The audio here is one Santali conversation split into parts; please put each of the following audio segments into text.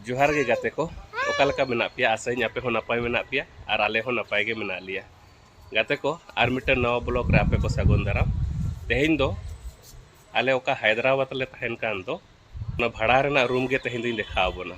ᱡᱚᱦᱟᱨ ᱜᱮ ᱜᱟᱛᱮ ᱠᱚ ᱚᱠᱟ ᱞᱮᱠᱟ ᱢᱮᱱᱟᱜ ᱯᱮᱭᱟ ᱟᱥᱟᱧ ᱟᱯᱮ ᱦᱚᱸ ᱱᱟᱯᱟᱭ ᱢᱮᱱᱟᱜ ᱯᱮᱭᱟ ᱟᱨ ᱟᱞᱮ ᱦᱚᱸ ᱱᱟᱯᱟᱭ ᱜᱮ ᱢᱮᱱᱟᱜ ᱞᱮᱭᱟ ᱜᱟᱛᱮ ᱠᱚ ᱟᱨ ᱢᱤᱫᱴᱮᱱ ᱱᱟᱣᱟ ᱵᱞᱚᱜ ᱨᱮ ᱟᱯᱮ ᱠᱚ ᱥᱟᱹᱜᱩᱱ ᱫᱟᱨᱟᱢ ᱛᱮᱦᱮᱧ ᱫᱚ ᱟᱞᱮ ᱚᱠᱟ ᱦᱟᱭᱫᱨᱟᱵᱟᱫᱽ ᱞᱮ ᱛᱟᱦᱮᱱ ᱠᱟᱱ ᱫᱚ ᱚᱱᱟ ᱵᱷᱟᱲᱟ ᱨᱮᱱᱟᱜ ᱨᱩᱢ ᱜᱮ ᱛᱮᱦᱮᱧ ᱫᱚᱧ ᱫᱮᱠᱷᱟᱣ ᱟᱵᱚᱱᱟ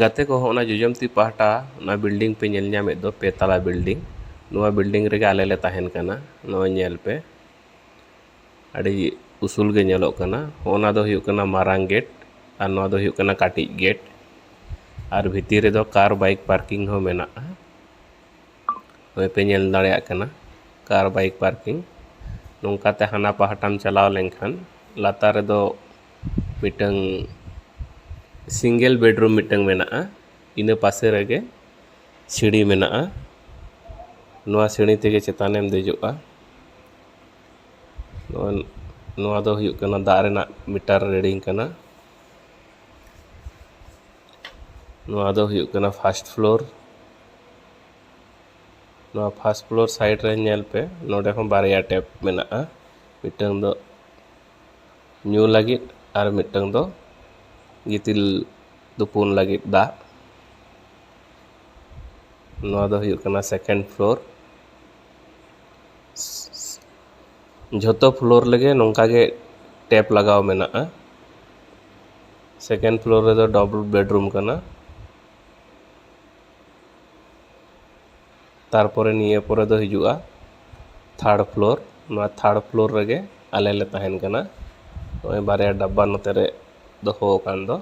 ᱜᱟᱛᱮ ᱠᱚ ᱦᱚᱸ ᱚᱱᱟ ᱡᱚᱡᱚᱢ ᱛᱤ ᱯᱟᱦᱴᱟ ᱚᱱᱟ ᱵᱤᱞᱰᱤᱝ ᱯᱮ ᱧᱮᱞ ᱧᱟᱢᱮᱫ ᱫᱚ ᱯᱮ ᱛᱟᱞᱟ ᱵᱤᱞᱰᱤᱝ ᱱᱚᱣᱟ ᱵᱤᱞᱰᱤᱝ ᱨᱮᱜᱮ ᱟᱞᱮ ᱞᱮ ᱛᱟᱦᱮᱱ ᱠᱟᱱᱟ ᱱᱚᱜᱼᱚᱸᱭ ᱧᱮᱞ ᱯᱮ ᱟᱹᱰᱤ ᱩᱥᱩᱞ ᱜᱮ ᱧᱮᱞᱚᱜ ᱠᱟᱱᱟ ᱦᱚᱸᱜᱼᱚ ᱱᱟ ᱫᱚ ᱦᱩᱭᱩᱜ ᱠᱟᱱᱟ ᱢᱟᱨᱟᱝ ᱜᱮᱴ ᱟᱨ ᱱᱚᱣᱟ ᱫᱚ ᱦᱩᱭᱩᱜ ᱠᱟᱱᱟ ᱠᱟᱹᱴᱤᱡ ᱜᱮᱴ ᱟᱨ ᱵᱷᱤᱛᱤᱨ ᱨᱮᱫᱚ ᱠᱟᱨ ᱵᱟᱭᱤᱠ ᱯᱟᱨᱠᱤᱝ ᱦᱚᱸ ᱢᱮᱱᱟᱜᱼᱟ ᱱᱚᱜᱼᱚᱸᱭ ᱯᱮ ᱧᱮᱞ ᱫᱟᱲᱮᱭᱟᱜ ᱠᱟᱱᱟ ᱠᱟᱨ ᱵᱟᱭᱤᱠ ᱯᱟᱨᱠᱤᱝ ᱱᱚᱝᱠᱟᱛᱮ ᱦᱟᱱᱟ ᱯᱟᱦᱴᱟᱢ ᱪᱟᱞᱟᱣ ᱞᱮᱱᱠᱷᱟᱱ ᱞᱟᱛᱟᱨ ᱨᱮᱫᱚ ᱢᱤᱫᱴᱟᱝ ᱥᱤᱝᱜᱮᱞ ᱵᱮᱰᱨᱩᱢ ᱢᱤᱫᱴᱟᱝ ᱢᱮᱱᱟᱜᱼᱟ ᱤᱱᱟᱹ ᱯᱟᱥᱮ ᱨᱮᱜᱮ ᱥᱤᱬᱤ ᱢᱮᱱᱟᱜᱼᱟ ᱱᱚᱣᱟ ᱥᱤᱬᱤ ᱛᱮᱜᱮ ᱪᱮᱛᱟᱱᱮᱢ ᱫᱮᱡᱚᱜᱼᱟ ᱱᱚᱣᱟ ᱫᱚ ᱦᱩᱭᱩᱜ ᱠᱟᱱᱟ ᱫᱟᱜ ᱨᱮᱱᱟᱜ ᱢᱤᱴᱟᱨ ᱨᱤᱰᱤᱝ ᱠᱟᱱᱟ ᱱᱚᱣᱟ ᱫᱚ ᱦᱩᱭᱩᱜ ᱠᱟᱱᱟ ᱯᱷᱟᱥᱴ ᱯᱷᱞᱳᱨ ᱱᱚᱣᱟ ᱯᱷᱟᱥᱴ ᱯᱷᱞᱳᱨ ᱥᱟᱭᱤᱰ ᱨᱮ ᱧᱮᱞ ᱯᱮ ᱱᱚᱰᱮ ᱦᱚᱸ ᱵᱟᱨᱭᱟ ᱴᱮᱯ ᱢᱮᱱᱟᱜᱼᱟ ᱢᱤᱫᱴᱟᱝ ᱫᱚ ᱧᱩ ᱞᱟᱹᱜᱤᱫ ᱟᱨ ᱢᱤᱫᱴᱟᱹᱝ ᱫᱚ ᱜᱤᱛᱤᱞ ᱛᱩᱯᱩᱱ ᱞᱟᱹᱜᱤᱫ ᱫᱟᱜ ᱱᱚᱣᱟ ᱫᱚ ᱦᱩᱭᱩᱜ ᱠᱟᱱᱟ ᱥᱮᱠᱮᱱᱰ ᱯᱷᱞᱳᱨ ᱡᱷᱚᱛᱚ ᱯᱷᱞᱳᱨ ᱨᱮᱜᱮ ᱱᱚᱝᱠᱟ ᱜᱮ ᱴᱮᱯ ᱞᱟᱜᱟᱣ ᱢᱮᱱᱟᱜᱼᱟ ᱥᱮᱠᱮᱱᱰ ᱯᱷᱞᱳᱨ ᱨᱮᱫᱚ ᱰᱚᱵᱚᱞ ᱵᱮᱰᱨᱩᱢ ᱠᱟᱱᱟ ᱛᱟᱨᱯᱚᱨᱮ ᱱᱤᱭᱟᱹ ᱯᱚᱨᱮ ᱫᱚ ᱦᱤᱡᱩᱜᱼᱟ ᱛᱷᱟᱨᱰ ᱯᱷᱞᱳᱨ ᱱᱚᱣᱟ ᱛᱷᱟᱨᱰ ᱯᱷᱞᱳᱨ ᱨᱮᱜᱮ ᱟᱞᱮ ᱞᱮ ᱛᱟᱦᱮᱱ ᱠᱟᱱᱟ ᱱᱚᱜᱼᱚᱭ ᱵᱟᱨᱭᱟ ᱰᱟᱵᱵᱟ ᱱᱚᱛᱮ ᱨᱮ ᱫᱚᱦᱚ ᱟᱠᱟᱱ ᱫᱚ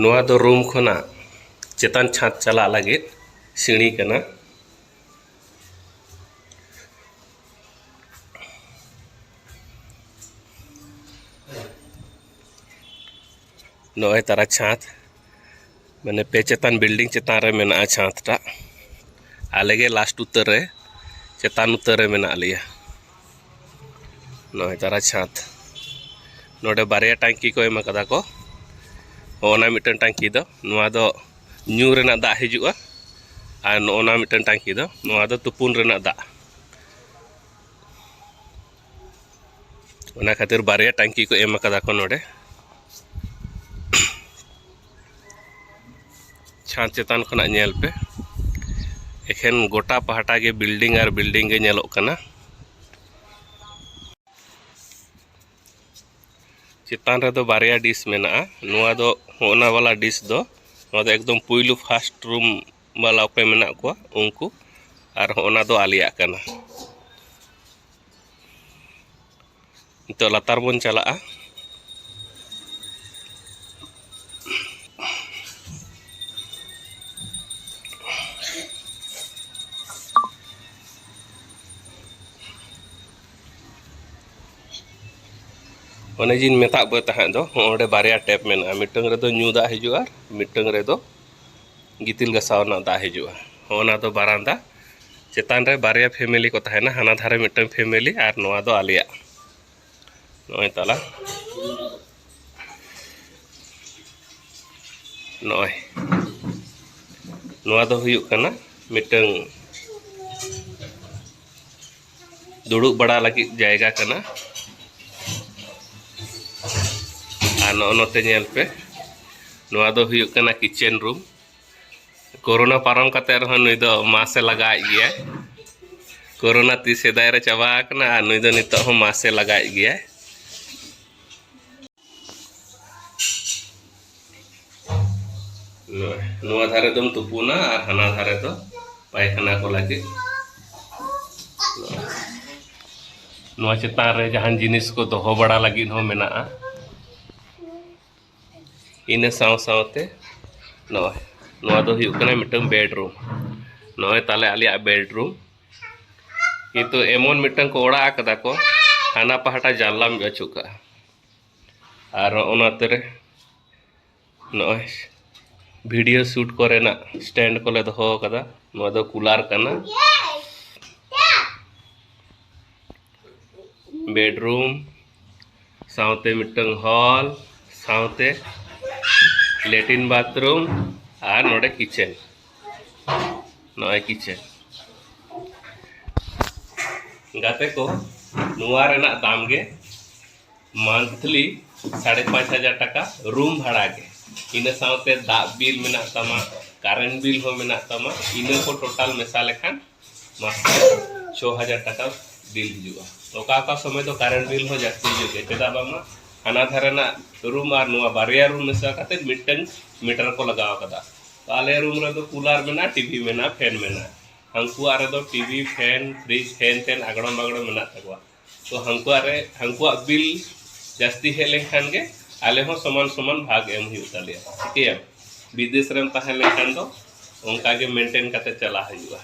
ᱱᱚᱣᱟ ᱫᱚ ᱨᱩᱢ ᱠᱷᱚᱱᱟᱜ ᱪᱮᱛᱟᱱ ᱪᱷᱟᱸᱫᱽ ᱪᱟᱞᱟᱜ ᱞᱟᱹᱜᱤᱫ ᱥᱤᱲᱤ ᱠᱟᱱᱟ ᱱᱚᱜᱼᱚᱭ ᱛᱟᱨᱟ ᱪᱷᱟᱸᱫᱽ ᱢᱟᱱᱮ ᱯᱮ ᱪᱮᱛᱟᱱ ᱵᱤᱞᱰᱤᱝ ᱪᱮᱛᱟᱱ ᱨᱮ ᱢᱮᱱᱟᱜᱼᱟ ᱪᱷᱟᱸᱫᱽ ᱴᱟᱜ ᱟᱞᱮ ᱜᱮ ᱞᱟᱥᱴ ᱩᱛᱟᱹᱨ ᱨᱮ ᱪᱮᱛᱟᱱ ᱩᱛᱟᱹᱨ ᱨᱮ ᱢᱮᱱᱟᱜ ᱞᱮᱭᱟ ᱱᱚᱜᱼᱚᱭ ᱛᱟᱨᱟ ᱪᱷᱟᱸᱫᱽ ᱱᱚᱰᱮ ᱵᱟᱨᱭᱟ ᱴᱟᱝᱠᱤ ᱠᱚ ᱮᱢ ᱟᱠᱟᱫᱟ ᱠᱚ ᱚᱱᱟ ᱢᱤᱫᱴᱟᱝ ᱴᱟᱝᱠᱤ ᱫᱚ ᱱᱚᱣᱟ ᱫᱚ ᱧᱩ ᱨᱮᱱᱟᱜ ᱫᱟᱜ ᱦᱤᱡᱩᱜᱼᱟ ᱟᱨ ᱱᱚᱜᱼᱚ ᱱᱟ ᱢᱤᱫᱴᱟᱝ ᱴᱟᱝᱠᱤ ᱫᱚ ᱱᱚᱣᱟ ᱫᱚ ᱛᱩᱯᱩᱱ ᱨᱮᱱᱟᱜ ᱫᱟᱜ ᱚᱱᱟ ᱠᱷᱟᱹᱛᱤᱨ ᱵᱟᱨᱭᱟ ᱴᱟᱝᱠᱤ ᱠᱚ ᱮᱢ ᱟᱠᱟᱫᱟ ᱠᱚ ᱱᱚᱰᱮ ᱪᱷᱟᱸᱫᱽ ᱪᱮᱛᱟᱱ ᱠᱷᱚᱱᱟᱜ ᱧᱮᱞ ᱯᱮ ᱮᱠᱷᱮᱱ ᱜᱚᱴᱟ ᱯᱟᱦᱴᱟ ᱜᱮ ᱵᱤᱞᱰᱤᱝ ᱟᱨ ᱵᱤᱞᱰᱤᱝ ᱜᱮ ᱧᱮᱞᱚᱜ ᱠᱟᱱᱟ ᱪᱮᱛᱟᱱ ᱨᱮᱫᱚ ᱵᱟᱨᱭᱟ ᱰᱤᱥ ᱢᱮᱱᱟᱜᱼᱟ ᱱᱚᱣᱟ ᱫᱚ ᱦᱚᱸᱜᱼᱱᱟ ᱵᱟᱞᱟ ᱰᱤᱥ ᱫᱚ ᱱᱚᱣᱟ ᱫᱚ ᱮᱠᱫᱚᱢ ᱯᱩᱭᱞᱩ ᱯᱷᱟᱥᱴ ᱨᱩᱢ ᱵᱟᱞᱟᱣ ᱯᱮ ᱢᱮᱱᱟᱜ ᱠᱚᱣᱟ ᱩᱱᱠᱩ ᱟᱨ ᱦᱚᱸ ᱚᱱᱟ ᱫᱚ ᱟᱞᱮᱭᱟᱜ ᱠᱟᱱᱟ ᱱᱤᱛᱚᱜ ᱞᱟᱛᱟᱨ ᱵᱚᱱ ᱪᱟᱞᱟᱜᱼᱟ ᱚᱱᱮ ᱡᱤᱧ ᱢᱮᱛᱟᱫ ᱯᱮ ᱛᱟᱦᱮᱸᱫ ᱫᱚ ᱚᱸᱰᱮ ᱵᱟᱨᱭᱟ ᱴᱮᱯ ᱢᱮᱱᱟᱜᱼᱟ ᱢᱤᱫᱴᱟᱝ ᱨᱮᱫᱚ ᱧᱩ ᱫᱟᱜ ᱦᱤᱡᱩᱜᱼᱟ ᱢᱤᱫᱴᱟᱝ ᱨᱮᱫᱚ ᱜᱤᱛᱤᱞ ᱜᱟᱥᱟᱣ ᱨᱮᱱᱟᱜ ᱫᱟᱜ ᱦᱤᱡᱩᱜᱼᱟ ᱦᱚᱸᱜᱼᱚ ᱱᱟ ᱫᱚ ᱵᱟᱨᱟᱱᱫᱟ ᱪᱮᱛᱟᱱ ᱨᱮ ᱵᱟᱨᱭᱟ ᱯᱷᱮᱢᱮᱞᱤ ᱠᱚ ᱛᱟᱦᱮᱱᱟ ᱦᱟᱱᱟ ᱫᱷᱟᱨᱮ ᱢᱤᱫᱴᱟᱝ ᱯᱷᱮᱢᱮᱞᱤ ᱟᱨ ᱱᱚᱣᱟ ᱫᱚ ᱟᱞᱮᱭᱟᱜ ᱱᱚᱜᱼᱚᱭ ᱛᱟᱞᱟ ᱱᱚᱜᱼᱚᱭ ᱱᱚᱣᱟ ᱫᱚ ᱦᱩᱭᱩᱜ ᱠᱟᱱᱟ ᱢᱤᱫᱴᱟᱝ ᱫᱩᱲᱩᱵ ᱵᱟᱲᱟ ᱞᱟᱹᱜᱤᱫ ᱡᱟᱭᱜᱟ ᱠᱟᱱᱟ ᱟᱨ ᱱᱚᱜᱼᱚ ᱱᱚᱛᱮ ᱧᱮᱞ ᱯᱮ ᱱᱚᱣᱟ ᱫᱚ ᱦᱩᱭᱩᱜ ᱠᱟᱱᱟ ᱠᱤᱪᱮᱱ ᱨᱩᱢ ᱠᱳᱨᱳᱱᱟ ᱯᱟᱨᱚᱢ ᱠᱟᱛᱮ ᱨᱮᱦᱚᱸ ᱱᱩᱭ ᱫᱚ ᱢᱟᱥᱮ ᱞᱟᱜᱟᱣᱮᱫ ᱜᱮᱭᱟ ᱠᱳᱨᱳᱱᱟ ᱛᱤ ᱥᱮᱫᱟᱭ ᱨᱮ ᱪᱟᱵᱟ ᱟᱠᱟᱱᱟ ᱟᱨ ᱱᱩᱭ ᱫᱚ ᱱᱤᱛᱚᱜ ᱦᱚᱸ ᱢᱟᱥᱮ ᱞᱟᱜᱟᱣᱮᱫ ᱜᱮᱭᱟ ᱱᱚᱣᱟ ᱫᱷᱟᱨᱮ ᱫᱚᱢ ᱛᱩᱯᱩᱱᱟ ᱟᱨ ᱦᱟᱱᱟ ᱫᱷᱟᱨᱮ ᱫᱚ ᱯᱟᱭᱠᱷᱟᱱᱟ ᱠᱚ ᱞᱟᱹᱜᱤᱫ ᱱᱚᱣᱟ ᱪᱮᱛᱟᱱ ᱨᱮ ᱡᱟᱦᱟᱱ ᱡᱤᱱᱤᱥ ᱠᱚ ᱫᱚᱦᱚ ᱵᱟᱲᱟ ᱞᱟᱹᱜᱤᱫ ᱦᱚᱸ ᱢᱮᱱᱟᱜᱼᱟ ᱤᱱᱟᱹ ᱥᱟᱶ ᱥᱟᱶᱛᱮ ᱱᱚᱜᱼᱚᱭ ᱱᱚᱣᱟ ᱫᱚ ᱦᱩᱭᱩᱜ ᱠᱟᱱᱟ ᱢᱤᱫᱴᱟᱝ ᱵᱮᱰᱨᱩᱢ ᱱᱚᱜᱼᱚᱭ ᱛᱟᱦᱚᱞᱮ ᱟᱞᱮᱭᱟᱜ ᱵᱮᱰᱨᱩᱢ ᱠᱤᱱᱛᱩ ᱮᱢᱚᱱ ᱢᱤᱫᱴᱟᱝ ᱠᱚ ᱚᱲᱟᱜ ᱟᱠᱟᱫᱟ ᱠᱚ ᱦᱟᱱᱟ ᱯᱟᱦᱴᱟ ᱡᱟᱱᱞᱟᱢ ᱟᱹᱪᱩ ᱠᱟᱜᱼᱟ ᱟᱨ ᱚᱱᱟ ᱛᱮᱨᱮ ᱱᱚᱜᱼᱚᱭ ᱵᱷᱤᱰᱤᱭᱳ ᱥᱩᱴ ᱠᱚᱨᱮᱱᱟᱜ ᱥᱴᱮᱱᱰ ᱠᱚᱞᱮ ᱫᱚᱦᱚ ᱟᱠᱟᱫᱟ ᱱᱚᱣᱟ ᱫᱚ ᱠᱩᱞᱟᱨ ᱠᱟᱱᱟ ᱵᱮᱰᱨᱩᱢ ᱥᱟᱶᱛᱮ ᱢᱤᱫᱴᱟᱝ ᱦᱚᱞ ᱥᱟᱶᱛᱮ ᱞᱮᱴᱤᱱ ᱵᱟᱛᱷᱨᱩᱢ ᱟᱨ ᱱᱚᱰᱮ ᱠᱤᱪᱮᱱ ᱱᱚᱜᱼᱚᱭ ᱠᱤᱪᱷᱮ ᱜᱟᱛᱮ ᱠᱚ ᱱᱚᱣᱟ ᱨᱮᱱᱟᱜ ᱫᱟᱢ ᱜᱮ ᱢᱟᱱᱛᱷᱞᱤ ᱥᱟᱲᱮ ᱯᱟᱸᱪ ᱦᱟᱡᱟᱨ ᱴᱟᱠᱟ ᱨᱩᱢ ᱵᱷᱟᱲᱟ ᱜᱮ ᱤᱱᱟᱹ ᱥᱟᱶᱛᱮ ᱫᱟᱜ ᱵᱤᱞ ᱢᱮᱱᱟᱜ ᱛᱟᱢᱟ ᱠᱟᱨᱮᱱᱴ ᱵᱤᱞ ᱦᱚᱸ ᱢᱮᱱᱟᱜ ᱛᱟᱢᱟ ᱤᱱᱟᱹ ᱠᱚ ᱴᱳᱴᱟᱞ ᱢᱮᱥᱟ ᱞᱮᱠᱷᱟᱱ ᱢᱟᱥ ᱪᱷᱚ ᱦᱟᱡᱟᱨ ᱴᱟᱠᱟ ᱵᱤᱞ ᱦᱤᱡᱩᱜᱼᱟ ᱚᱠᱟ ᱚᱠᱟ ᱥᱚᱢᱚᱭ ᱫᱚ ᱠᱟᱨᱮᱱᱴ ᱵᱤᱞ ᱦᱚᱸ ᱡᱟᱹᱥᱛᱤ ᱦᱤᱡᱩᱜ ᱜᱮᱭᱟ ᱪᱮᱫᱟᱜ ᱵᱟᱝᱢᱟ ᱦᱟᱱᱟ ᱫᱷᱟᱨᱮ ᱨᱮᱱᱟᱜ ᱨᱩᱢ ᱟᱨ ᱱᱚᱣᱟ ᱵᱟᱨᱭᱟ ᱨᱩᱢ ᱢᱮᱥᱟ ᱠᱟᱛᱮᱫ ᱢᱤᱫᱴᱟᱹᱝ ᱢᱤᱴᱟᱨ ᱠᱚ ᱞᱟᱜᱟᱣ ᱠᱟᱫᱟ ᱛᱚ ᱟᱞᱮ ᱨᱩᱢ ᱨᱮᱫᱚ ᱠᱩᱞᱟᱨ ᱢᱮᱱᱟᱜᱼᱟ ᱴᱤᱵᱷᱤ ᱢᱮᱱᱟᱜᱼᱟ ᱯᱷᱮᱱ ᱢᱮᱱᱟᱜᱼᱟ ᱦᱟᱹᱱᱠᱩᱣᱟᱜ ᱨᱮᱫᱚ ᱴᱤᱵᱷᱤ ᱯᱷᱮᱱ ᱯᱷᱨᱤᱡᱽ ᱦᱮᱱ ᱛᱮᱱ ᱟᱜᱽᱲᱚᱢ ᱵᱟᱜᱽᱲᱚᱢ ᱢᱮᱱᱟᱜ ᱛᱟᱠᱚᱣᱟ ᱛᱚ ᱦᱟᱹᱱᱠᱩᱣᱟᱜ ᱨᱮ ᱦᱟᱹᱱᱠᱩᱣᱟᱜ ᱵᱤᱞ ᱡᱟᱹᱥᱛᱤ ᱦᱮᱡ ᱞᱮᱱᱠᱷᱟᱱ ᱜᱮ ᱟᱞᱮ ᱦᱚᱸ ᱥᱚᱢᱟᱱ ᱥᱚᱢᱟᱱ ᱵᱷᱟᱜᱽ ᱮᱢ ᱦᱩᱭᱩᱜ ᱛᱟᱞᱮᱭᱟ ᱴᱷᱤᱠᱟᱹᱭᱟᱢ ᱵᱤᱫᱮᱥ ᱨᱮᱢ ᱛᱟᱦᱮᱸ ᱞᱮᱱᱠᱷᱟᱱ ᱫᱚ ᱚᱱᱠᱟ ᱜᱮ ᱢᱮᱱᱴᱮᱱ ᱠᱟᱛᱮ ᱪᱟᱞᱟᱜ ᱦᱩᱭᱩᱜᱼᱟ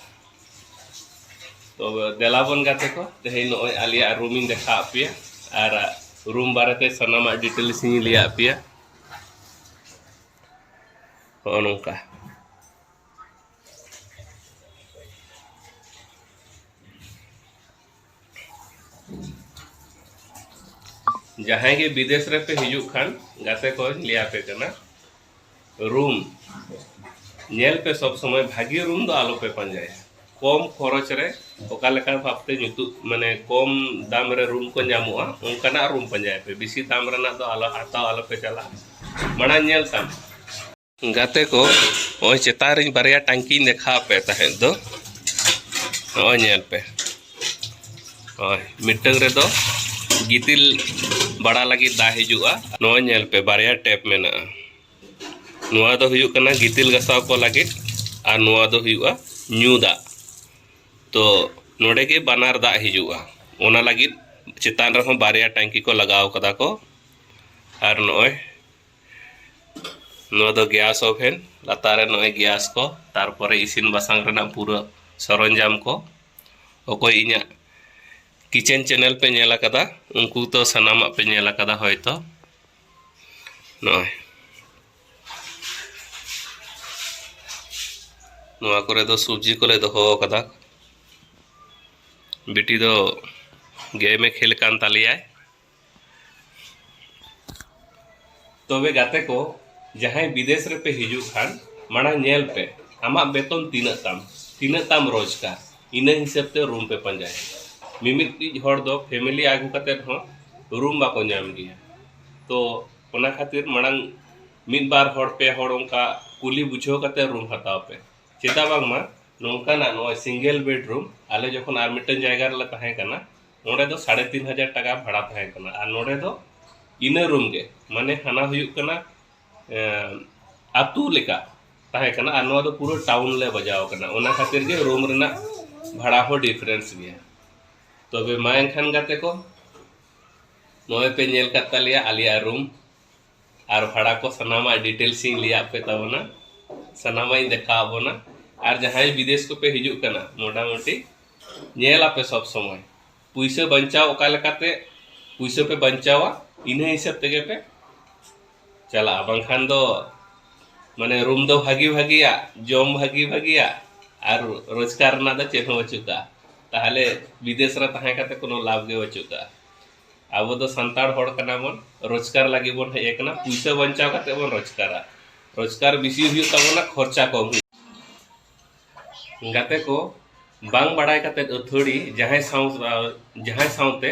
ᱛᱚ ᱫᱮᱞᱟ ᱵᱚᱱ ᱜᱟᱛᱮ ᱠᱚ ᱛᱮᱦᱮᱧ ᱱᱚᱜᱼᱚᱭ ᱟᱞᱮᱭᱟᱜ ᱨᱩᱢᱤᱧ ᱫᱮᱠᱷᱟᱣ ᱟᱫ ᱯᱮᱭᱟ ᱟᱨ ᱨᱩᱢ ᱵᱟᱨᱮᱛᱮ ᱥᱟᱱᱟᱢᱟᱜ ᱰᱤᱴᱮᱞᱥ ᱤᱧ ᱞᱟᱹᱭᱟᱫ ᱯᱮᱭᱟ ᱱᱚᱜᱼᱚ ᱱᱚᱝᱠᱟ ᱡᱟᱦᱟᱸᱭ ᱜᱮ ᱵᱤᱫᱮᱥ ᱨᱮᱯᱮ ᱦᱤᱡᱩᱜ ᱠᱷᱟᱱ ᱜᱟᱛᱮ ᱠᱚᱧ ᱞᱟᱹᱭ ᱟᱯᱮ ᱠᱟᱱᱟ ᱨᱩᱢ ᱧᱮᱞ ᱯᱮ ᱥᱚᱵ ᱥᱚᱢᱚᱭ ᱵᱷᱟᱜᱮ ᱨᱩᱢ ᱫᱚ ᱟᱞᱚ ᱯᱮ ᱯᱟᱸᱡᱟᱭᱟ ᱠᱚᱢ ᱠᱷᱚᱨᱚᱪ ᱨᱮ ᱚᱠᱟ ᱞᱮᱠᱟ ᱵᱷᱟᱵᱽ ᱛᱮ ᱧᱩᱛᱩᱢ ᱢᱟᱱᱮ ᱠᱚᱢ ᱫᱟᱢ ᱨᱮ ᱨᱩᱢ ᱠᱚ ᱧᱟᱢᱚᱜᱼᱟ ᱚᱱᱠᱟᱱᱟᱜ ᱨᱩᱢ ᱯᱟᱸᱡᱟᱭ ᱯᱮ ᱵᱮᱥᱤ ᱫᱟᱢ ᱨᱮᱱᱟᱜ ᱫᱚ ᱟᱞᱚ ᱦᱟᱛᱟᱣ ᱟᱞᱚ ᱯᱮ ᱪᱟᱞᱟᱜᱼᱟ ᱢᱟᱲᱟᱝ ᱧᱮᱞ ᱛᱟᱢ ᱜᱟᱛᱮ ᱠᱚ ᱱᱚᱜᱼᱚᱭ ᱪᱮᱛᱟᱱ ᱨᱮᱧ ᱵᱟᱨᱭᱟ ᱴᱟᱝᱠᱤᱧ ᱫᱮᱠᱷᱟᱣ ᱯᱮ ᱛᱟᱦᱮᱸᱫ ᱫᱚ ᱱᱚᱜᱼᱚᱭ ᱧᱮᱞ ᱯᱮ ᱦᱳᱭ ᱢᱤᱫᱴᱟᱝ ᱨᱮᱫᱚ ᱜᱤᱛᱤᱞ ᱵᱟᱲᱟ ᱞᱟᱹᱜᱤᱫ ᱫᱟᱜ ᱦᱤᱡᱩᱜᱼᱟ ᱱᱚᱜᱼᱚᱭ ᱧᱮᱞ ᱯᱮ ᱵᱟᱨᱭᱟ ᱴᱮᱯ ᱢᱮᱱᱟᱜᱼᱟ ᱱᱚᱣᱟ ᱫᱚ ᱦᱩᱭᱩᱜ ᱠᱟᱱᱟ ᱜᱤᱛᱤᱞ ᱜᱟᱥᱟᱣ ᱠᱚ ᱞᱟᱹᱜᱤᱫ ᱟᱨ ᱱᱚᱣᱟ ᱫᱚ ᱦᱩᱭᱩᱜᱼᱟ ᱧᱩ ᱫᱟᱜ ᱛᱚ ᱱᱚᱰᱮ ᱜᱮ ᱵᱟᱱᱟᱨ ᱫᱟᱜ ᱦᱤᱡᱩᱜᱼᱟ ᱚᱱᱟ ᱞᱟᱹᱜᱤᱫ ᱪᱮᱛᱟᱱ ᱨᱮᱦᱚᱸ ᱵᱟᱨᱭᱟ ᱴᱟᱝᱠᱤ ᱠᱚ ᱞᱟᱜᱟᱣ ᱠᱟᱫᱟ ᱠᱚ ᱟᱨ ᱱᱚᱜᱼᱚᱭ ᱱᱚᱣᱟ ᱫᱚ ᱜᱮᱥ ᱳᱵᱷᱮᱱ ᱞᱟᱛᱟᱨ ᱨᱮ ᱱᱚᱜᱼᱚᱭ ᱜᱮᱥ ᱠᱚ ᱛᱟᱨᱯᱚᱨᱮ ᱤᱥᱤᱱ ᱵᱟᱥᱟᱝ ᱨᱮᱱᱟᱜ ᱯᱩᱨᱟᱹ ᱥᱚᱨᱚᱧᱡᱟᱢ ᱠᱚ ᱚᱠᱚᱭ ᱤᱧᱟᱹᱜ ᱠᱤᱪᱮᱱ ᱪᱮᱱᱮᱞ ᱯᱮ ᱧᱮᱞ ᱟᱠᱟᱫᱟ ᱩᱱᱠᱩ ᱫᱚ ᱥᱟᱱᱟᱢᱟᱜ ᱯᱮ ᱧᱮᱞ ᱟᱠᱟᱫᱟ ᱦᱚᱭᱛᱚ ᱱᱚᱜᱼᱚᱭ ᱱᱚᱣᱟ ᱠᱚᱨᱮ ᱫᱚ ᱥᱚᱵᱽᱡᱤ ᱠᱚᱞᱮ ᱫᱚᱦᱚ ᱟᱠᱟᱫᱟ ᱵᱤᱴᱤ ᱫᱚ ᱜᱮᱢᱮ ᱠᱷᱮᱞ ᱠᱟᱱ ᱛᱟᱞᱮᱭᱟᱭ ᱛᱚᱵᱮ ᱜᱟᱛᱮ ᱠᱚ ᱡᱟᱦᱟᱸᱭ ᱵᱤᱫᱮᱥ ᱨᱮᱯᱮ ᱦᱤᱡᱩᱜ ᱠᱷᱟᱱ ᱢᱟᱲᱟᱝ ᱧᱮᱞ ᱯᱮ ᱟᱢᱟᱜ ᱵᱮᱛᱚᱱ ᱛᱤᱱᱟᱹᱜ ᱛᱟᱢ ᱛᱤᱱᱟᱹᱜ ᱛᱟᱢ ᱨᱳᱡᱽᱜᱟᱨ ᱤᱱᱟᱹ ᱦᱤᱥᱟᱹᱵ ᱛᱮ ᱨᱩᱢ ᱯᱮ ᱯᱟᱸᱡᱟᱭᱟ ᱢᱤᱢᱤᱫᱴᱤᱡ ᱦᱚᱲ ᱫᱚ ᱯᱷᱮᱢᱮᱞᱤ ᱟᱹᱜᱩ ᱠᱟᱛᱮᱫ ᱦᱚᱸ ᱨᱩᱢ ᱵᱟᱠᱚ ᱧᱟᱢ ᱜᱮᱭᱟ ᱛᱚ ᱚᱱᱟ ᱠᱷᱟᱹᱛᱤᱨ ᱢᱟᱲᱟᱝ ᱢᱤᱫ ᱵᱟᱨ ᱦᱚᱲ ᱯᱮ ᱦᱚᱲ ᱚᱱᱠᱟ ᱠᱩᱞᱤ ᱵᱩᱡᱷᱟᱹᱣ ᱠᱟᱛᱮᱫ ᱨᱩᱢ ᱦᱟᱛᱟᱣ ᱯᱮ ᱪᱮᱫᱟᱜ ᱵᱟᱝᱢᱟ ᱱᱚᱝᱠᱟᱱᱟᱜ ᱱᱚᱜᱼᱚᱭ ᱥᱤᱝᱜᱮᱞ ᱵᱮᱰᱨᱩᱢ ᱟᱞᱮ ᱡᱚᱠᱷᱚᱱ ᱟᱨ ᱢᱤᱫᱴᱮᱱ ᱡᱟᱭᱜᱟ ᱨᱮᱞᱮ ᱛᱟᱦᱮᱸ ᱠᱟᱱᱟ ᱚᱸᱰᱮ ᱫᱚ ᱥᱟᱲᱮ ᱛᱤᱱ ᱦᱟᱡᱟᱨ ᱴᱟᱠᱟ ᱵᱷᱟᱲᱟ ᱛᱟᱦᱮᱸ ᱠᱟᱱᱟ ᱟᱨ ᱱᱚᱸᱰᱮ ᱫᱚ ᱤᱱᱟᱹ ᱨᱩᱢ ᱜᱮ ᱢᱟᱱᱮ ᱦᱟᱱᱟ ᱦᱩᱭᱩᱜ ᱠᱟᱱᱟ ᱟᱛᱳ ᱞᱮᱠᱟ ᱛᱟᱦᱮᱸ ᱠᱟᱱᱟ ᱟᱨ ᱱᱚᱣᱟ ᱫᱚ ᱯᱩᱨᱟᱹ ᱴᱟᱣᱩᱱ ᱞᱮ ᱵᱟᱡᱟᱣ ᱠᱟᱱᱟ ᱚᱱᱟ ᱠᱷᱟᱹᱛᱤᱨ ᱜᱮ ᱨᱩᱢ ᱨᱮᱱᱟᱜ ᱵᱷᱟᱲᱟ ᱦᱚᱸ ᱰᱤᱯᱷᱟᱨᱮᱱᱥ ᱜᱮᱭᱟ ᱛᱚᱵᱮ ᱢᱟ ᱮᱱᱠᱷᱟᱱ ᱜᱟᱛᱮ ᱠᱚ ᱱᱚᱜᱼᱚᱭ ᱯᱮ ᱧᱮᱞ ᱠᱟᱫ ᱛᱟᱞᱮᱭᱟ ᱟᱞᱮᱭᱟᱜ ᱨᱩᱢ ᱟᱨ ᱵᱷᱟᱲᱟ ᱠᱚ ᱥᱟᱱᱟᱢᱟᱜ ᱰᱤᱴᱮᱞᱥ ᱤᱧ ᱞᱟᱹᱭᱟᱫ ᱯᱮ ᱛᱟᱵᱚᱱᱟ ᱥᱟᱱᱟᱢᱟᱜ ᱤᱧ ᱫᱮᱠᱷᱟᱣ ᱵᱚᱱᱟ ᱟᱨ ᱡᱟᱦᱟᱸᱭ ᱵᱤᱫᱮᱥ ᱠᱚᱯᱮ ᱦᱤᱡᱩᱜ ᱠᱟᱱᱟ ᱢᱚᱴᱟᱢᱩᱴᱤ ᱧᱮᱞᱟᱯᱮ ᱥᱚᱵ ᱥᱚᱢᱚᱭ ᱯᱩᱭᱥᱟᱹ ᱵᱟᱧᱪᱟᱣ ᱚᱠᱟ ᱞᱮᱠᱟᱛᱮ ᱯᱩᱭᱥᱟᱹ ᱯᱮ ᱵᱟᱧᱪᱟᱣᱟ ᱤᱱᱟᱹ ᱦᱤᱥᱟᱹᱵ ᱛᱮᱜᱮ ᱯᱮ ᱪᱟᱞᱟᱜᱼᱟ ᱵᱟᱝᱠᱷᱟᱱ ᱫᱚ ᱢᱟᱱᱮ ᱨᱩᱢ ᱫᱚ ᱵᱷᱟᱹᱜᱤ ᱵᱷᱟᱹᱜᱤᱭᱟᱜ ᱡᱚᱢ ᱵᱷᱟᱹᱜᱤ ᱵᱷᱟᱹᱜᱤᱭᱟᱜ ᱟᱨ ᱨᱳᱡᱽᱜᱟᱨ ᱨᱮᱱᱟᱜ ᱫᱚ ᱪᱮᱫ ᱦᱚᱸ ᱵᱟᱹᱪᱩᱜ ᱠᱟᱜᱼᱟ ᱛᱟᱦᱚᱞᱮ ᱵᱤᱫᱮᱥ ᱨᱮ ᱛᱟᱦᱮᱸ ᱠᱟᱛᱮ ᱠᱳᱱᱳ ᱞᱟᱵᱷ ᱜᱮ ᱵᱟᱹᱪᱩᱜ ᱠᱟᱜᱼᱟ ᱟᱵᱚ ᱫᱚ ᱥᱟᱱᱛᱟᱲ ᱦᱚᱲ ᱠᱟᱱᱟ ᱵᱚᱱ ᱨᱳᱡᱽᱜᱟᱨ ᱞᱟᱹᱜᱤᱫ ᱵᱚᱱ ᱦᱮᱡ ᱟᱠᱟᱱᱟ ᱯᱩᱭᱥᱟᱹ ᱵᱟᱧᱪᱟᱣ ᱠᱟᱛᱮ ᱵᱚᱱ ᱨᱳᱡᱽᱜᱟᱨᱟ ᱨᱳᱡᱽᱜᱟᱨ ᱵᱮᱥᱤ ᱦᱩᱭᱩᱜ ᱛᱟᱵᱚᱱᱟ ᱠᱷᱚᱨᱪᱟ ᱠᱚᱢ ᱦᱩᱭᱩᱜ ᱜᱟᱛᱮ ᱠᱚ ᱵᱟᱝ ᱵᱟᱲᱟᱭ ᱠᱟᱛᱮ ᱟᱹᱛᱷᱟᱹᱲᱤ ᱡᱟᱦᱟᱸᱭ ᱥᱟᱶ ᱡᱟᱦᱟᱸᱭ ᱥᱟᱶᱛᱮ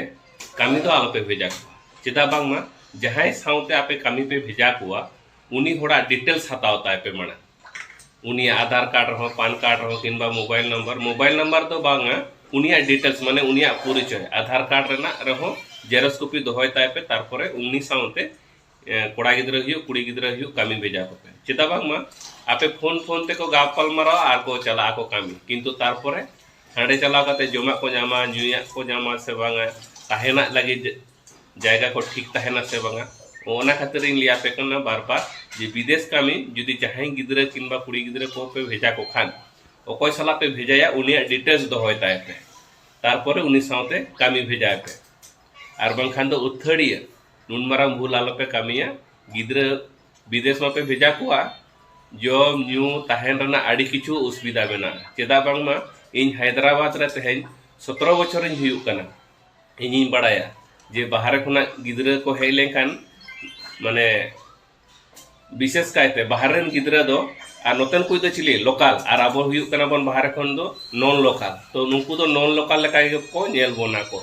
ᱠᱟᱹᱢᱤ ᱫᱚ ᱟᱞᱚᱯᱮ ᱵᱷᱮᱡᱟ ᱠᱚᱣᱟ ᱪᱮᱫᱟᱜ ᱵᱟᱝᱢᱟ ᱡᱟᱦᱟᱸᱭ ᱥᱟᱶᱛᱮ ᱟᱯᱮ ᱠᱟᱹᱢᱤ ᱯᱮ ᱵᱷᱮᱡᱟ ᱠᱚᱣᱟ ᱩᱱᱤ ᱦᱚᱲᱟᱜ ᱰᱤᱴᱮᱞᱥ ᱦᱟᱛᱟᱣ ᱛᱟᱭ ᱯᱮ ᱢᱟᱲᱟᱝ ᱩᱱᱤᱭᱟᱜ ᱟᱫᱷᱟᱨ ᱠᱟᱨᱰ ᱨᱮᱦᱚᱸ ᱯᱟᱱ ᱠᱟᱨᱰ ᱨᱮᱦᱚᱸ ᱠᱤᱝᱵᱟ ᱢᱳᱵᱟᱭᱤᱞ ᱱᱟᱢᱵᱟᱨ ᱢᱳᱵᱟᱭᱤᱞ ᱱᱟᱢᱵᱟᱨ ᱫᱚ ᱵᱟᱝᱟ ᱩᱱᱤᱭᱟᱜ ᱰᱤᱴᱮᱞᱥ ᱢᱟᱱᱮ ᱩᱱᱤᱭᱟᱜ ᱯᱚᱨᱤᱪᱚᱭ ᱟᱫᱷᱟᱨ ᱠᱟᱨᱰ ᱨᱮᱱᱟᱜ ᱨᱮᱦᱚᱸ ᱡᱮᱨᱚᱠᱥ ᱠᱚᱯᱤ ᱫᱚᱦᱚᱭ ᱛᱟᱭ ᱯᱮ ᱛᱟᱨᱯᱚᱨᱮ ᱩᱱᱤ ᱥᱟᱶᱛᱮ ᱠᱚᱲᱟ ᱜᱤᱫᱽᱨᱟᱹ ᱦᱩᱭᱩᱜ ᱠᱩᱲᱤ ᱜᱤᱫᱽᱨᱟᱹ ᱦᱩᱭᱩᱜ ᱠᱟᱹᱢᱤ ᱵᱷᱮᱡᱟ ᱠᱚᱯᱮ ᱪᱮᱫᱟᱜ ᱵᱟᱝᱢᱟ ᱟᱯᱮ ᱯᱷᱳᱱ ᱯᱷᱳᱱ ᱛᱮᱠᱚ ᱜᱟᱯᱟᱞ ᱢᱟᱨᱟᱣᱟ ᱟᱨ ᱠᱚ ᱪᱟᱞᱟᱜ ᱟᱠᱚ ᱠᱟᱹᱢᱤ ᱠᱤᱱᱛᱩ ᱛᱟᱨᱯᱚᱨᱮ ᱦᱟᱸᱰᱮ ᱪᱟᱞᱟᱣ ᱠᱟᱛᱮ ᱡᱚᱢᱟᱜ ᱠᱚ ᱧᱟᱢᱟ ᱧᱩᱭᱟᱜ ᱠᱚ ᱧᱟᱢᱟ ᱥᱮ ᱵᱟᱝᱟ ᱛᱟᱦᱮᱱᱟᱜ ᱞᱟᱹᱜᱤᱫ ᱡᱟᱭᱜᱟ ᱠᱚ ᱴᱷᱤᱠ ᱛᱟᱦᱮᱱᱟ ᱥᱮ ᱵᱟᱝᱟ ᱚᱱᱟ ᱠᱷᱟᱹᱛᱤᱨ ᱤᱧ ᱞᱟᱹᱭᱟᱯᱮ ᱠᱟᱱᱟ ᱵᱟᱨ ᱵᱟᱨ ᱡᱮ ᱵᱤᱫᱮᱥ ᱠᱟᱹᱢᱤ ᱡᱩᱫᱤ ᱡᱟᱦᱟᱸᱭ ᱜᱤᱫᱽᱨᱟᱹ ᱠᱤᱝᱵᱟ ᱠᱩᱲᱤ ᱜᱤᱫᱽᱨᱟᱹ ᱠᱚ ᱯᱮ ᱵᱷᱮᱡᱟ ᱠᱚ ᱠᱷᱟᱱ ᱚᱠᱚᱭ ᱥᱟᱞᱟᱜ ᱯᱮ ᱵᱷᱮᱡᱟᱭᱟ ᱩᱱᱤᱭᱟᱜ ᱰᱤᱴᱮᱞᱥ ᱫᱚᱦᱚᱭ ᱛᱟᱭ ᱯᱮ ᱛᱟᱨᱯᱚᱨᱮ ᱩᱱᱤ ᱥᱟᱶᱛᱮ ᱠᱟᱹᱢᱤ ᱵᱷᱮᱡᱟᱭ ᱯᱮ ᱟᱨ ᱵᱟᱝᱠᱷᱟᱱ ᱫᱚ ᱟᱹᱛᱷᱟᱹᱲᱤᱭᱟᱹ ᱱᱩᱱ ᱢᱟᱨᱟᱝ ᱵᱷᱩᱞ ᱟᱞᱚᱯᱮ ᱠᱟᱹᱢᱤᱭᱟ ᱜᱤᱫᱽᱨᱟᱹ ᱵᱤᱫᱮᱥ ᱢᱟᱯᱮ ᱵᱷᱮᱡᱟ ᱠᱚᱣᱟ ᱡᱚᱢ ᱧᱩ ᱛᱟᱦᱮᱱ ᱨᱮᱱᱟᱜ ᱟᱹᱰᱤ ᱠᱤᱪᱷᱩ ᱚᱥᱩᱵᱤᱫᱷᱟ ᱢᱮᱱᱟᱜᱼᱟ ᱪᱮᱫᱟᱜ ᱵᱟᱝᱢᱟ ᱤᱧ ᱦᱟᱭᱫᱨᱟᱵᱟᱫᱽ ᱨᱮ ᱛᱮᱦᱮᱧ ᱥᱚᱛᱨᱚ ᱵᱚᱪᱷᱚᱨᱤᱧ ᱦᱩᱭᱩᱜ ᱠᱟᱱᱟ ᱤᱧᱤᱧ ᱵᱟᱲᱟᱭᱟ ᱡᱮ ᱵᱟᱦᱨᱮ ᱠᱷᱚᱱᱟᱜ ᱜᱤᱫᱽᱨᱟᱹ ᱠᱚ ᱦᱮᱡ ᱞᱮᱱᱠᱷᱟᱱ ᱢᱟᱱᱮ ᱵᱤᱥᱮᱥ ᱠᱟᱭᱛᱮ ᱵᱟᱦᱨᱮ ᱨᱮᱱ ᱜᱤᱫᱽᱨᱟᱹ ᱫᱚ ᱟᱨ ᱱᱚᱛᱮᱱ ᱠᱚ ᱫᱚ ᱪᱤᱞᱤ ᱞᱳᱠᱟᱞ ᱟᱨ ᱟᱵᱚ ᱦᱩᱭᱩᱜ ᱠᱟᱱᱟ ᱵᱚᱱ ᱵᱟᱦᱨᱮ ᱠᱷᱚᱱ ᱫᱚ ᱱᱚᱱ ᱞᱳᱠᱟᱞ ᱛᱚ ᱱᱩᱠᱩ ᱫᱚ ᱱᱚᱱ ᱞᱳᱠᱟᱞ ᱞᱮᱠᱟ ᱜᱮ ᱠᱚ ᱧᱮᱞ ᱵᱚᱱᱟ ᱠᱚ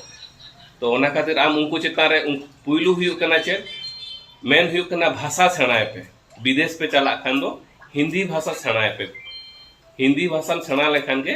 ᱛᱚ ᱚᱱᱟ ᱠᱷᱟᱹᱛᱤᱨ ᱟᱢ ᱩᱱᱠᱩ ᱪᱮᱛᱟᱱ ᱨᱮ ᱯᱩᱭᱞᱩ ᱦᱩᱭᱩᱜ ᱠᱟᱱᱟ ᱪᱮᱫ ᱢᱮᱱ ᱦᱩᱭᱩᱜ ᱠᱟᱱᱟ ᱵᱷᱟᱥᱟ ᱥᱮᱬᱟᱭ ᱯᱮ ᱵᱤᱫᱮᱥ ᱯᱮ ᱪᱟᱞᱟᱜ ᱠᱷᱟᱱ ᱫᱚ ᱦᱤᱱᱫᱤ ᱵᱷᱟᱥᱟ ᱥᱮᱬᱟᱭ ᱯᱮ ᱦᱤᱱᱫᱤ ᱵᱷᱟᱥᱟᱢ ᱥᱮᱬᱟ ᱞᱮᱠᱷᱟᱱ ᱜᱮ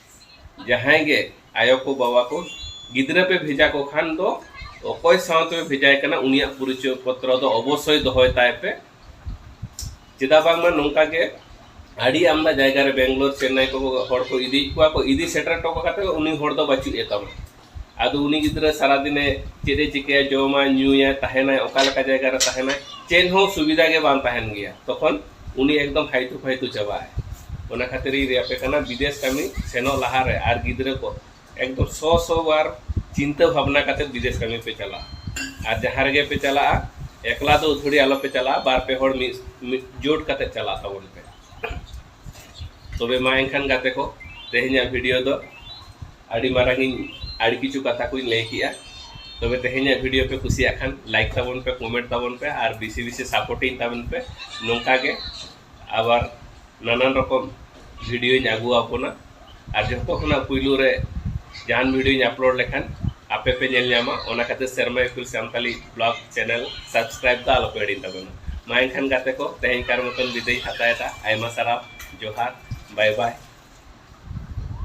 ᱡᱟᱦᱟᱸᱭ ᱜᱮ ᱟᱭᱳ ᱠᱚ ᱵᱟᱵᱟ ᱠᱚ ᱜᱤᱫᱽᱨᱟᱹ ᱯᱮ ᱵᱷᱮᱡᱟ ᱠᱚ ᱠᱷᱟᱱ ᱫᱚ ᱚᱠᱚᱭ ᱥᱟᱶᱛᱮ ᱯᱮ ᱵᱷᱮᱡᱟᱭ ᱠᱟᱱᱟ ᱩᱱᱤᱭᱟᱜ ᱯᱚᱨᱤᱪᱚᱭ ᱯᱚᱛᱨᱚ ᱫᱚ ᱚᱵᱚᱥᱥᱳᱭ ᱫᱚᱦᱚᱭ ᱛᱟᱭ ᱯᱮ ᱪᱮᱫᱟᱜ ᱵᱟᱝᱢᱟ ᱱᱚᱝᱠᱟ ᱜᱮ ᱟᱹᱰᱤ ᱟᱢᱫᱟ ᱡᱟᱭᱜᱟ ᱨᱮ ᱵᱮᱝᱜᱟᱞᱳᱨ ᱪᱮᱱᱱᱟᱭ ᱠᱚ ᱦᱚᱲ ᱠᱚ ᱤᱫᱤᱭᱮᱫ ᱠᱚᱣᱟ ᱠᱚ ᱤᱫᱤ ᱥᱮᱴᱮᱨ ᱦᱚᱴᱚ ᱠᱟᱛᱮᱫ ᱩᱱᱤ ᱦᱚᱲ ᱫᱚ ᱵᱟᱹᱪᱩᱜ ᱮ ᱛᱟᱢᱟ ᱟᱫᱚ ᱩᱱᱤ ᱜᱤᱫᱽᱨᱟᱹ ᱥᱟᱨᱟ ᱫᱤᱱᱮ ᱪᱮᱫ ᱮ ᱪᱤᱠᱟᱹᱭᱟ ᱡᱚᱢᱟᱭ ᱧᱩᱭᱟᱭ ᱛᱟᱦᱮᱱᱟᱭ ᱚᱠᱟ ᱞᱮᱠᱟ ᱡᱟᱭᱜᱟ ᱨᱮ ᱛᱟᱦᱮᱱᱟᱭ ᱪᱮᱫ ᱦᱚᱸ ᱥᱩᱵᱤᱫᱷᱟ ᱜᱮ ᱵᱟᱝ ᱛᱟᱦᱮᱱ ᱜᱮᱭᱟ ᱛᱚᱠᱷᱚᱱ ᱩᱱᱤ ᱮᱠᱫᱚᱢ ᱦᱟᱭᱛᱩ ᱯᱷᱟᱭᱛᱩ ᱪᱟᱵᱟᱜᱼᱟᱭ ᱚᱱᱟ ᱠᱷᱟᱹᱛᱤᱨ ᱤᱧ ᱞᱟᱹᱭ ᱟᱯᱮ ᱠᱟᱱᱟ ᱵᱤᱫᱮᱥ ᱠᱟᱹᱢᱤ ᱥᱮᱱᱚᱜ ᱞᱟᱦᱟ ᱨᱮ ᱟᱨ ᱜᱤᱫᱽᱨᱟᱹ ᱠᱚ ᱮᱠᱫᱚᱢ ᱥᱚ ᱥᱚ ᱵᱟᱨ ᱪᱤᱱᱛᱟᱹ ᱵᱷᱟᱵᱽᱱᱟ ᱠᱟᱛᱮ ᱵᱤᱫᱮᱥ ᱠᱟᱹᱢᱤ ᱯᱮ ᱪᱟᱞᱟᱜᱼᱟ ᱟᱨ ᱡᱟᱦᱟᱸ ᱨᱮᱜᱮ ᱯᱮ ᱪᱟᱞᱟᱜᱼᱟ ᱮᱠᱞᱟ ᱫᱚ ᱟᱹᱛᱷᱟᱹᱲᱤ ᱟᱞᱚ ᱯᱮ ᱪᱟᱞᱟᱜᱼᱟ ᱵᱟᱨ ᱯᱮ ᱦᱚᱲ ᱢᱤᱫ ᱢᱤᱫ ᱡᱳᱴ ᱠᱟᱛᱮ ᱪᱟᱞᱟᱜ ᱛᱟᱵᱚᱱ ᱯᱮ ᱛᱚᱵᱮ ᱢᱟ ᱮᱱᱠᱷᱟᱱ ᱜᱟᱛᱮ ᱠᱚ ᱛᱮᱦᱮᱧᱟᱜ ᱵᱷᱤᱰᱤᱭᱳ ᱫᱚ ᱟᱹᱰᱤ ᱢᱟᱨᱟᱝ ᱤᱧ ᱟᱹᱰᱤ ᱠᱤᱪᱷᱩ ᱠᱟᱛᱷᱟ ᱠᱚᱧ ᱞᱟᱹᱭ ᱠᱮᱜᱼᱟ ᱛᱚᱵᱮ ᱛᱮᱦᱮᱧᱟᱜ ᱵᱷᱤᱰᱤᱭᱳ ᱯᱮ ᱠᱩᱥᱤᱭᱟᱜ ᱠᱷᱟᱱ ᱞᱟᱭᱤᱠ ᱛᱟᱵᱚᱱ ᱯᱮ ᱠᱚᱢᱮᱱᱴ ᱛᱟᱵᱚᱱ ᱯᱮ ᱟᱨ ᱵᱮᱥᱤ ᱵᱮᱥᱤ ᱥᱟᱯᱳᱨᱴᱤᱧ ᱛᱟᱵᱚᱱ ᱯᱮ ᱱᱚᱝᱠᱟ ᱜᱮ ᱟᱵᱟᱨ ᱱᱟᱱᱟᱱ ᱨᱚᱠᱚᱢ ᱵᱷᱤᱰᱤᱭᱳᱧ ᱟᱹᱜᱩ ᱟᱵᱚᱱᱟ ᱟᱨ ᱡᱚᱛᱚ ᱠᱷᱚᱱᱟᱜ ᱯᱩᱭᱞᱩ ᱨᱮ ᱡᱟᱦᱟᱱ ᱵᱷᱤᱰᱤᱭᱳᱧ ᱟᱯᱞᱳᱰ ᱞᱮᱠᱷᱟᱱ ᱟᱯᱮ ᱯᱮ ᱧᱮᱞ ᱧᱟᱢᱟ ᱚᱱᱟ ᱠᱷᱟᱹᱛᱤᱨ ᱥᱮᱨᱢᱟ ᱤᱯᱤᱞ ᱥᱟᱱᱛᱟᱞᱤ ᱵᱞᱚᱜ ᱪᱮᱱᱮᱞ ᱥᱟᱵᱥᱠᱨᱟᱭᱤᱵ ᱫᱚ ᱟᱞᱚᱯᱮ ᱦᱤᱲᱤᱧ ᱛᱟᱵᱚᱱᱟ ᱢᱟ ᱮᱱᱠᱷᱟᱱ ᱜᱟᱛᱮ ᱠᱚ ᱛᱮᱦᱮᱧ ᱠᱟᱨ ᱢᱚᱛᱚᱱ ᱵᱤᱫᱟᱹᱭ ᱦᱟᱛᱟᱣᱮᱫᱟ ᱟᱭᱢᱟ ᱥᱟᱨᱦᱟᱣ ᱡᱚᱦᱟᱨ ᱵᱟᱭ ᱵᱟᱭ